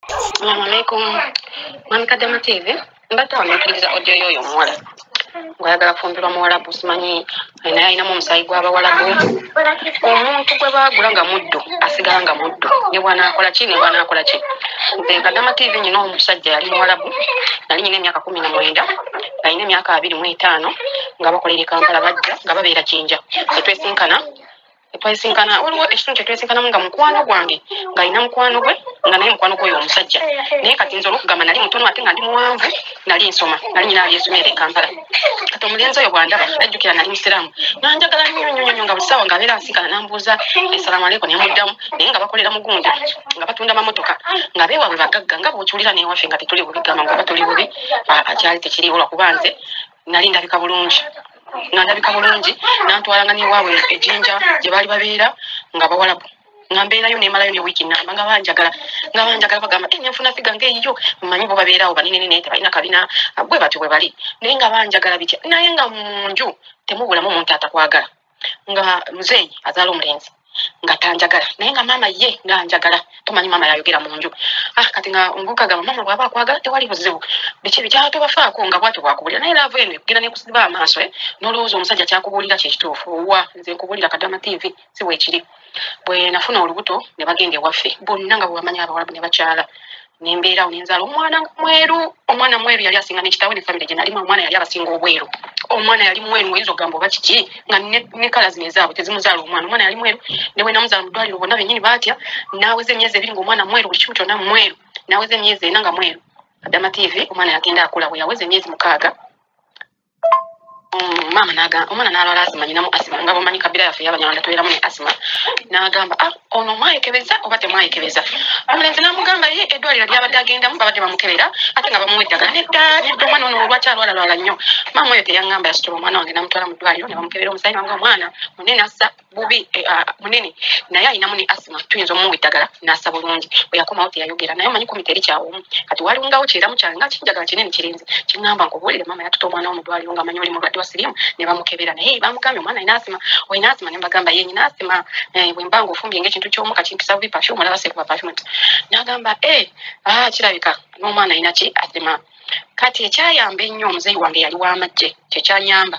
Assalamu alaikum. Mami Kadama TV. Mbadde wano mpuliriza audio y'oyo omuwala ng'ayagala kufumbirwa muwalabu simanyi naye alinamu omusaayi gw'abawalabu omuntu gwe baagula nga muddu asigala nga muddu ne bwanaakola ki ne bwanaakola ki nze kadama tv nyina omusajja yali muwalabu nali nyina emyaka kumi na mwenda nalina emyaka abiri mu etaano nga bakolera e kampala bajja nga babeera kinja etwesinkana twesinkana waliwo ekitundu kyetwesinkanamu nga mukwano gwange ngaalina mukwano gwe nga naye mukwano gwoyo omusajja naye kati nze olwokugamba nali mutono ate nga ndi muwanvu nali nsoma nali nyina abyesomera ekampala kati omulenzi oyo bwandaba najjukira nali musiraamu nanjagala nyonyonyonyo nga busawa nga abeera nsinkana nambuuza esalamu aleku nemuddamu naye nga bakolera mugundi nga batunda mamotoka nga bewaabwe bagagga nga bwokiwulira newafe nga tetuli bubi gamba nga batuli bubi akyali tekiriwo lwakuba nze nali ndabika bulungi nga ndabika bulungi nantwalanga newaabwe ejinja gye baali babeera nga bawalabu nga mbeerayo nemalayo ne wiiki namba nga banjagala nga banjagala bagamba e nenfuna figa nga eyiyo mmanyi bo babeerawo banene nene tebalina kabina bwe batyo bwe bali naye nga banjagala bitya naye nga mu nju temubulamu omuntu atakwagala nga muzeeyi azaala omulenzi nga tanjagala naye nga maama ye nga njagala tomanyi maama yayogera mu nju ah, kati nga omuvubuka gamba maama bwaba akwagala tewali buzibu biki bikyala tobafaako nga bwatyo bwakubuulira naye laavu eno ekugenda nekusiba amaaso eh? nolowooza omusajja kyakubuulira kyekituufu owa nze nkubuulira kadama tv si weekiri bwe nafuna olubuto ne bagenda ewaffe bonna nga bwebamanya abawalabu ne bakyala nembeerawo nenzaala omwana mweru omwana mweru yali asinga nekitawe ne famire gye nalimu omwana yali abasinga obweru omwana yali mweru oyinza okugamba oba kiki nga ne kala zino ezaabwe tezimuzaala omwana omwana yali mweru ne bwe namuzaala mu ddwaliro bonna benyini baatya naaweza emyezi ebiri nga omwana mweru buli kimu kyonna mweru naaweza emyezi ena nga mweru adama tv omwana yagenda akula bwe yaweza emyezi mukaaga mm, maama naga omwana nalwala asima nyinamu asima nga bomanyi kabira yaffe yabanyarwanda tubeeramu ne asima nagamba ah, ono mwayekebeza oba temwayekebeza omulenzi namugamba ye eddwaliro lyabadde agendamu babadde bamukebera ate nga bamuwa eddagala nedda nedda omwana ono olwaki alwalalwala nnyo maama oyo teyangamba yasitula omwana wange namutwala mu ddwaliro ne bamukebera omusaayi nanga omwana munene assa bubi eh, ah, munene naye alinamu ne asima tuyinza omuwa eddagala nasa bulungi bweyakomawo teyayogera naye omanyi kumita eri kyawomu kati walingawo kyeramu kyange nga kinjagala kinene kirinzi kiŋamba nkubuulire maama yatuta omwana wo mudwaliro nga manyi oli mulwadde wa sirimu ne bamukebera naye bamugambye omwana alina asima olina asima ne mbagamba ye nyina asima eh, bwe mba nga ofumbye ngaekintu kyomuka kimpisa bubi pafyu omulaba sekuba pafyu nti nagamba e eh, ah, kirabika n'omwana alina ki asima kati ekyayamba ennyo omuzeeyi wange yali w'amajje kyekyanyamba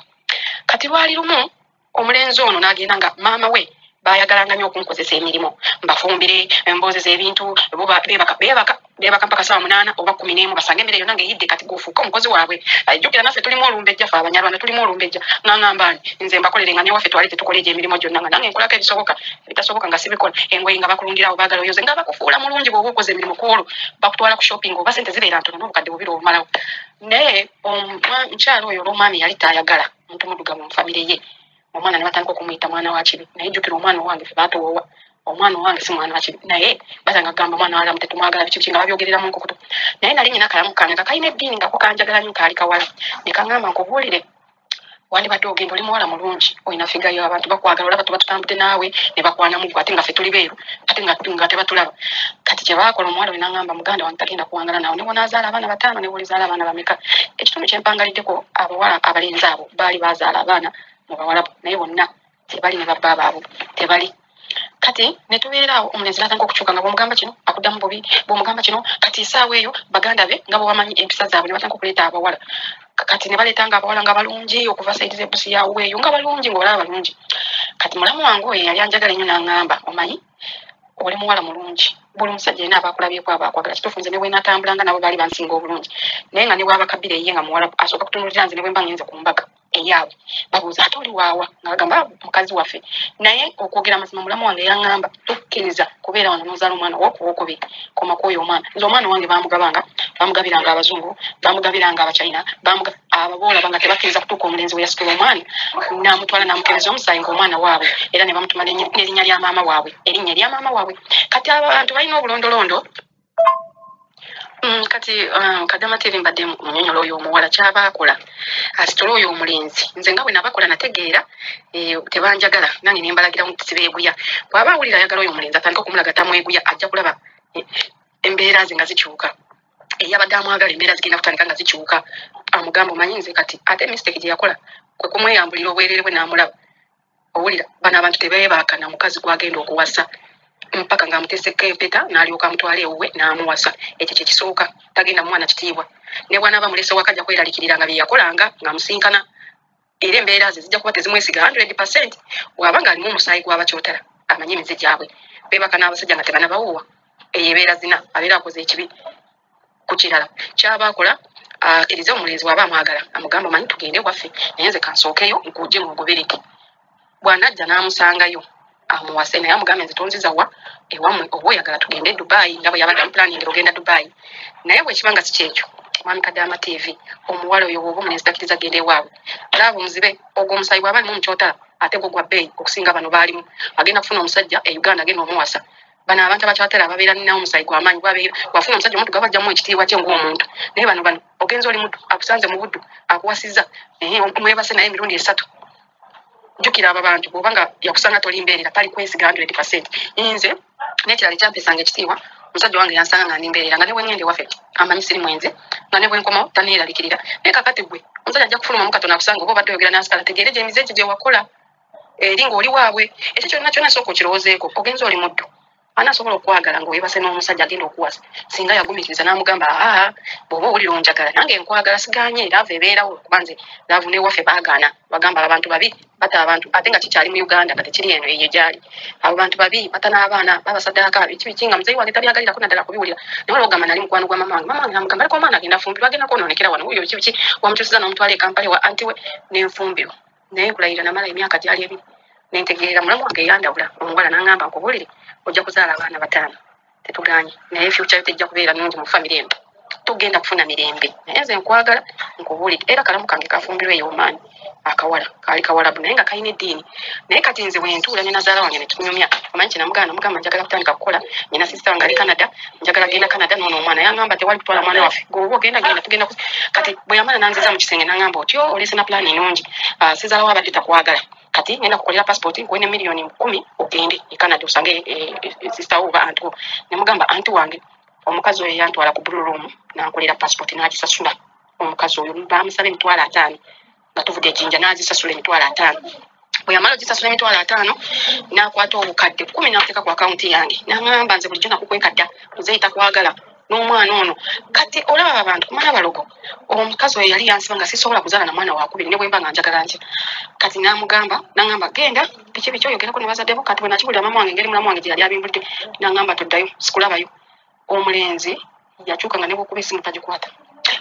kati lwali lumu omulenzi ono n'agenda nga maama we bayagalanga nyo okunkozesa emirimu mbafumbire embozeza ebintu bebaka mpaka saa munaana oba kumi nemu basanga emere yona ngaeyidde kati gofuuka omukozi waabwe ajjukira naffe tulimu olumbejja fe abanyarwanda tulimu olumbejja nangambani nze mbakolere nga newaffe twali tetukola egyo emirimu gyonna nga nange nkolako ebisoboka ebitasoboka nga sibikola engoyi nga bakulungirawo bagala oyoze nga bakufuula mulungi bwoba okoze emirimu kwolo bakutwala ku shopping oba sente zibeera ntono nobukadde bubiri obumalawo naye omukyalo oyo olwomwami yali tayagala omuntu mudugavu mu famire ye omwana ne batandika okumuyita mwana wa kibi naye jjukira omwana owange fe baatowoowa omwana owange si mwana wa kibi naye basanga kugamba mwana walamu tetumwagala biki biki nga babyogereramu nkukutu naye nali nyina kalamu kange nga kalina eddiini nga kukanjagala nyo kaali kawala ne kaŋamba nkubuulire wandibadde ogenda oli muwala mulungi olina figa yo abantu bakwagala olaba tuba tutambudde naawe ne bakwanamu gwe ate nga fe tuli beeru ate nga tebatulaba kati kyebakola omuwala wenangamba muganda wange tagenda kuwangala nawe newonazaala abaana bataano newolizaala abaana bameka ekitundu kyempangaliddeko abawala abalenzi abo baali bazaala abaana mu bawalabu naye bonna tebali ne babba baabwe tebali kati netubeeraawo omulenzi natandika okukyuka nga bwomugamba kino akuddamu bubi bwomugamba kino kati esaawa eyo baganda be nga bwebamanyi empisa zaabwe nebatandika okuleeta abawala kati nebaleta nga abawala nga balungi okuva saidi zebusi yaweeyo nga balungi ngaolaba balungi kati mulamu wange oyo yali anjagala enyo nangamba omanyi oli muwala mulungi buli musajja yena abakulabyeko abakwagala kitufu nze newenatambula nga nabo baali bansinga obulungi naye nga newabakabira eye nga muwala asooka kutunulira nze nebwemba ngenze ku mbaga eyaabwe babuuza ate oli waawa nga bagamba ah, mukazi waffe naye okwogera amazima mulamu wange yaŋŋamba tokkiriza kubeera wano nozaala omwana wokuwokubi koma kwoyo omwana nze omwana wange bamugabanga bamugabiranga abazungu bamugabiranga abachina ababoolaba nga tebakkiriza kutuuka omulenzi we yasitula omwana namutwala namukereza omusaayi ngaomwana waabwe era ne bamutuma nerinnya lya maama waabwe erinnya erya maama waabwe kati abantu balina obulondolondo Mm, kati um, kadama tv mbadde munyonyola oyo omuwala kyaba akola asitole oyo omulenzi nze nga bwenabakola nategeera eh, tebanjagala nange nembalagira nti sibeeguya bwaba awulira ayagala oyo omulenzi atandika okumulaga tamweguya ajja kulaba eh, embeera ze nga zikyuka eyabadde amwagala embeera zigenda kutandika nga zikyuka amugamba omanyi nze kati ate mistake gye yakola kwe kumweyambulira obwerere bwe n'amulaba owulira bano abantu tebeebakana mukazi gwagenda okuwasa mpaka ng'amutesekka empeta n'alyoka amutwala ewuwe n'amuwasa ekyo kye kisooka tagenda mwana kitiibwa ne bwanaaba mulese waka ajja kweralikirira nga bye yakolanga ng'amusinkana era embeera ze zijja kuba tezimwesiga 100 percent waba ng'alimu omusaayi gw'abakyotera amanyi emize gyabwe beebaka n'abasajja nga tebanabawuwa eyo ebeera zina abeera akoze ekibi ku kirala kyaba akola akirize omulenzi waba amwagala amugamba manyi tugende waffe naye nze kansookeyo nkuje ngogobereke bwanajja n'amusangayo amuwase naye amugambe nze tonziza wa ewamwe oba oyagala tugende e dubai nga bwe yabadde amupulaningira ogenda dubai naye bwekiba nga sikyekyo mwami kadaama tv omuwala oyo woba omulenzi takiriza genda ewaabwe laaba omuzibe ogwo omusayi bwaba alimu mukyotala ate gwo gwa bbeeyi okusinga bano baalimu agenda kufuna omusajja e uganda agenda omuwasa bano abantu abakyatera ababeera nina omusayi gwamaanyi gwabeera wafuna omusajja omuddu gaba ajjamu ekitiibwa kye ngaomuntu naye bano bano ogenza oli muddu akusanze mu buddu akuwasiza mwebase naye emirundi esatu jukira abo bantu bwoba nga yakusanga toli mbeerera tali kwesiga hundred percent nze nekirala ekyampesanga ekitiibwa omusajja wange yansanga nga ndi mbeerera nga ne bwengende wafe amanyi siri mwenze nga ne bwenkomawo taneerabikirira naye kakati gwe omusajja ajja kufulumamu katono akusanga oba obadde oyogera nansika ategeere gyemize egyo gyewakola eri ng'oli waabwe ekyo kyonna kyona sooka okirowoozeeko ogenza oli muddu ani asobola okukwagala ng'oyebase n'omusajja agenda okuwasa singa yagumikiriza n'amugamba aa bw'oba owulira onjagala nange nkwagala siganye laavu ebeerawo kuba nze laavu newaffe baagaana bagamba abantu babi bata abantu ate nga kikyali mu uganda nga tekiri eno eyo gyali abo bantu babi bata n'abaana babasadaaka biki biki nga muzeyi wange tabyagalirako naddala kubiwulira naye olwogamba nali mukwano gwa mama wange mama wange namugamba aliko omwana agenda fumbirwa agenda kwonoonekera wano wuyo biki biki wamukyusiza n'omutwala ekampale wa anti we nenfumbirwa naye nkulayira namala emyaka gyali ebiri nentegeera mulamu wange eyandabula omuwala nangamba nkubuulire ojja kuzaala abaana bataano tetuganye naye fyukya yo tejja kubeera nungi mu famiry emu togenda kufuna mirembe naye nze nkwagala nkubuulire era kalamu kange kafumbirwa eyo omaani akawala kaali kawalabu naye nga kalina eddiini naye kati nze wentuula ne nazaala wange netunyumya omanyi kyenamugaana mugamba njagala kutandika kukola nyina sisita wange ali canada njagala genda canada noona omwana yangamba tewali kutwala mwana waffe goba ogenda genda tugenda kati bwe yamala nanziza mu kisenge nangamba otyo oh, olese na pulaani nungi ah, sizalawo abadde takwagala kati ngenda kukolera passport nkuwe ne miliyoni kumi ogende e canada osange e, e, sister wo oba anti wo nemugamba anti wange omukazi oyo yantwala ku blue room nankolera passport nagisasula omukazi oyo bamusaba emitwalo ataano nga tuvuga ejinja nazisasula emitwalo ataano bweyamala ogisasula emitwalo ataano nakwata obukadde kumi nateeka ku akawunti yange naŋamba nze bulijjo nakukwekadda nzeyita kwagala n'omwana ono kati olaba abantu kumala balogo omukazi oyo yali yansiba nga sisobola kuzaala na mwana wakubiri ne bwemba nga njagala ntya kati namugamba nangamba genda biki biki oyogerako ne bazaddebo kati bwe nakiwulira mama wange engeri mulamu wange gye yali abimbulidde nangamba toddayo sikulabayo omulenzi yakyuka nga nebwokuba esimu tagikwata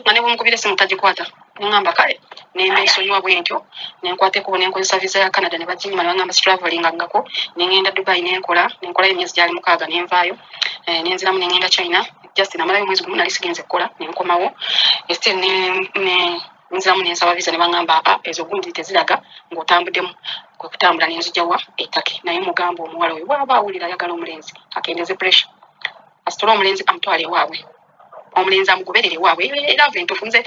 nga nebwomukubira esimu tagikwata nengamba kale nembesonyiwa bwentyo nenkwata ekubo nenkozesa visa ya canada nebaginyima nebagamba sitravelinga ngako nengenda dubai nenkola nenkolayo emyezi gyali mukaaga nenvaayo eh, nenziramu nengenda china just namalayo omwezi gumu nali sigenze kukola nenkomawo estil ne nziramu nensaba visa nebaŋamba apa ezo gundi teziraga ngaotambudemu kwekutambula nenzijawa etake naye mugamba omuwala oyo waaba awulira ayagala omulenzi akendeze pressure asitole omulenzi amutwale ewaabwe omulenzi amugoberere ewaabwe era ave ntufu nze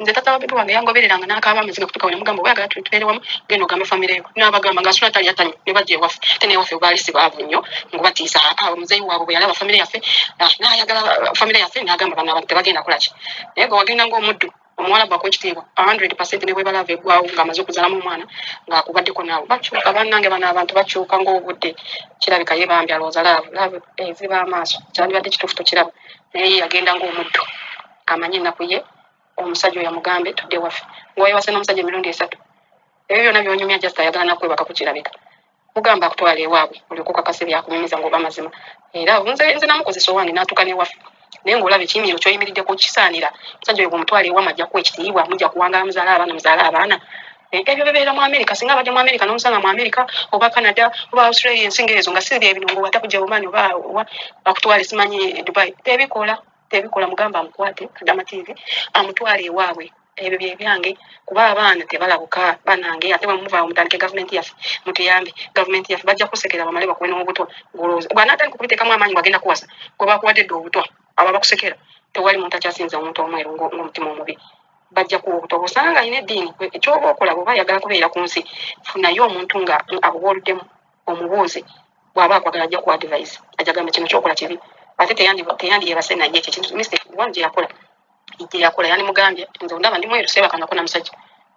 nze tata wabebi wange yangobereranga nakaaba amaziga kutuka we nemugamba oyagala tubeere wamu genda ogamba famire yo nabagamba nga asula tali atanyo ne bajja ewaffe te newaffe baali sibaavu nnyo ngubatiisa awo muzeeyi waabwe bwe yalaba famire yaffe ah, nayagala famire yaffe nagamba bana abantu tebagenda kulaki naye gwe wagenda ngaomuddu omuwala bwako ekitiibwa hundred percent ne bwebalava eggwawo ng'amaze okuzalamu omwana ng'akubaddeko naawe bakyuka bannange bano abantu bakyuka ng'obudde kirabika ye bambi alowooza laavu laavu eziba amaaso kyandibadde kituufu tokiraba naye ye yagenda ng'omuddu amanye ennaku ye omusajja oyo amugambe tudde waffe ng'oyewase n'omusajja emirundi esatu ebyo byonna byonyumya just ayagala nakwebaka ku kirabika kugamba akutwala ewaabwe olyoka okakase byakunyumiza ngaoba mazima era nze nze namukozesa owange natuuka newaffe naye ngaolaba ekiyimiro kyoyimiriddeko kisaanira musajja oyo bwomutwala ewama ajja kuwa ekitiibwa mujja kuwangala muzaala abaana muzaala abaana eh, ebyo bibeera mu amerika singa abadde mu amerika nomusanga mu amerika oba canada oba australia ensinga ezo nga si byebino ngaowata kujja omaani oba akutwale simanyi dubai tebikola tebikola mugamba amukwate kadama tv amutwale ewaabwe ebyo byebyange kuba abaana tebalabuka banange ate bamuvaawo mutandike gavumenti yaffe mutuyambe gavumenti yaffe bajja kusekera bamale bakuwe n'obutwa gwolowooza bwanatandika okubiteekamu amaanyi wagenda kuwasa gwe bakuwadde dde obutwa abo abakusekera tewali muntu akyasinza omuntu omweru ng'omutima omubi bajja kuwa obutwa bwosanga nga alina eddiini ekyoba okola bwoba ayagala kubeera ku nsi funayo omuntu nga abuwooluddemu omubuuze bwaba akwagala ajja ku advise ajja gamba kino kyokola kibi ate teyandi teyandi yebase naye ekyo kintu mistake one je yakola ije yakola yani mugambye nze ndaba ndi mweru seba kanga kuna musajja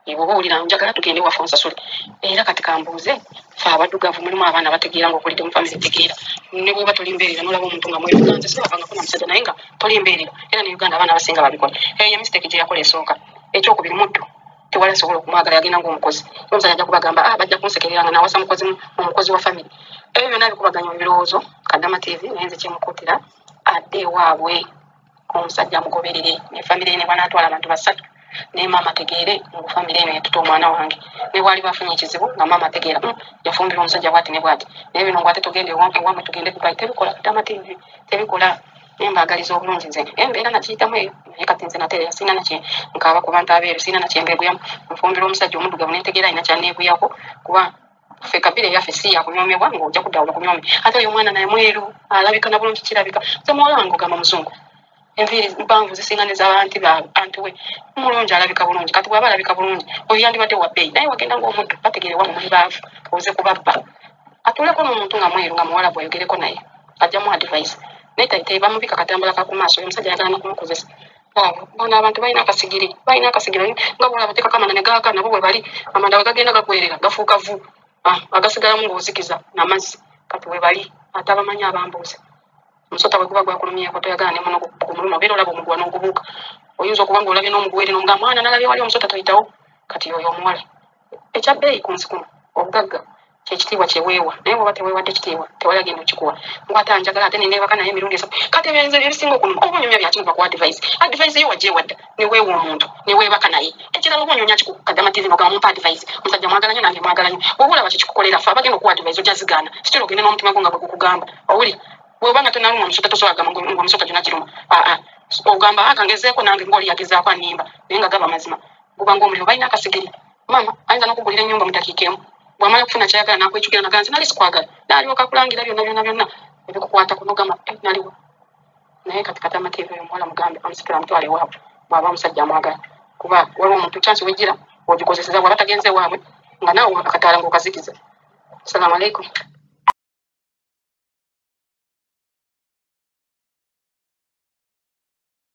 ibo bo ulira njagala tugende wa fonsa sule era kati kambuze fa abadugavu mulimu abaana bategeera ngo kulide mu family tegeera ne bwo batuli mbere na nolabo muntu nga mweru kanze seba kanga kuna musajja naye nga toli mbere era ni uganda abaana basinga babikola eyo mistake je yakola esoka ekyo kubiri muddu tewali asobola okumwagala yagenda ngaomukozi omusajja ajja kubagamba ah, bajja kunsekerera nga nawasa mukozi omukozi wa famire ebyo byona bikubaganya ebirowoozo kadama tv naye nze kyemukutira adde ewaabwe omusajja amugoberere ne famire ye nebanaatwala abantu basatu naye maama ategeere ngu famire eno yatuta omwana wange ne bwali bafunye ekizibu nga maama ategeera hmm, yafumbirwa omusajja bwati ne bwati naye bino ngu ate tugende ewamwe tugende kubai tebikola kadama tv tebikola naye mbaagaliza obulungi nze embeera nakiyitamu eyo naye kati nze natereera sirina nakye nkaaba ku bantu abeeru sirina nakye mbeeguyamu nfumbirwa omusajja omuddugavu nentegeera alina kyaneeguyako kuba ffe kabira eyaffe si yakunyoomebwa ng'ojja kuddawo bakunyoome ate oyo omwana naye mweru alabika na bulungi kirabika nze muwala wange ogamba muzungu enviiri mpanvu zisinga ne zaanti ba anti we mulungi alabika bulungi kati bwaba alabika bulungi oyo yandibadde wa bbeeyi naye wagenda ng'omuddu bategeere wa mumuli baavu oze kubabba atuuleko n'omuntu nga mweru nga muwala bwayogereko naye ajja mu advice naye taitayi bamubika katambula kakumaaso oyo omusajja ayagala nakumukozesa bona abantu balina akasigiri balina akasigiri nga bona batekako amanda ne gaaka nabo bwe bali amanda bwe gagenda gagwerera gafuuka vu ah, agasigalamu ngaozikiza namazzi kati we bali ate abamanyi abambuuza omusota bwe guba gwakulumyeko toyagala nemuno kumuluma obeera olaba omuguwa n'ogubuuka oyinza okuba ngaolabye n'omuguwere nomugamba mwana nalabye wali omusota toyitawo kati oyo omuwala ekya bbeeyi ku nsi kuno obugagga kyekitiibwa kyeweewa naye bwoba teweewadde kitiibwa tewali agenda okikuwa ngwate anjagala ate neneebaka naye emirundi esatu kati ebyenze ebisinga okunuma oba onyonya byaki nova ku advise advise yo wagyewadda neweewa omuntu neweebaka naye ekirala oba onyonya kiku kadama tv nogamba mumpa advise omusajja mwagala nyo nange mwagala nyo bwoba olaba kyekikukolera fe abagenda okuwa advise ojja zigaana sitira ogende n'omutima gwo nga bwe gukugamba owuli bwoba nga tonaluma omusota tosobola gamba ngomusota gyona giruma aa ogamba akangezeeko nange ngaoli yagezaako animba naye nga gaba mazima guba ng'omuliro balina akasigiri maama ayinza n'okugulira ennyumba mu dakiika emu bw'amala okufuna kyayagala n'akwecukira naga nti nali sikwagala n'alyoka kulangira byonna byonna byonna ebikukwata kunogama eh, naliwo naye kati kati amateeka eyo omuwala mugambe amusikira amutwala ewaabwe bw'aba omusajja amwagala kuba waliwo omuntu kyansi wejjira ogikozeseza bwaba tagenze ewaabwe nga naawe akataala ng'okazikiza assalamu alaikum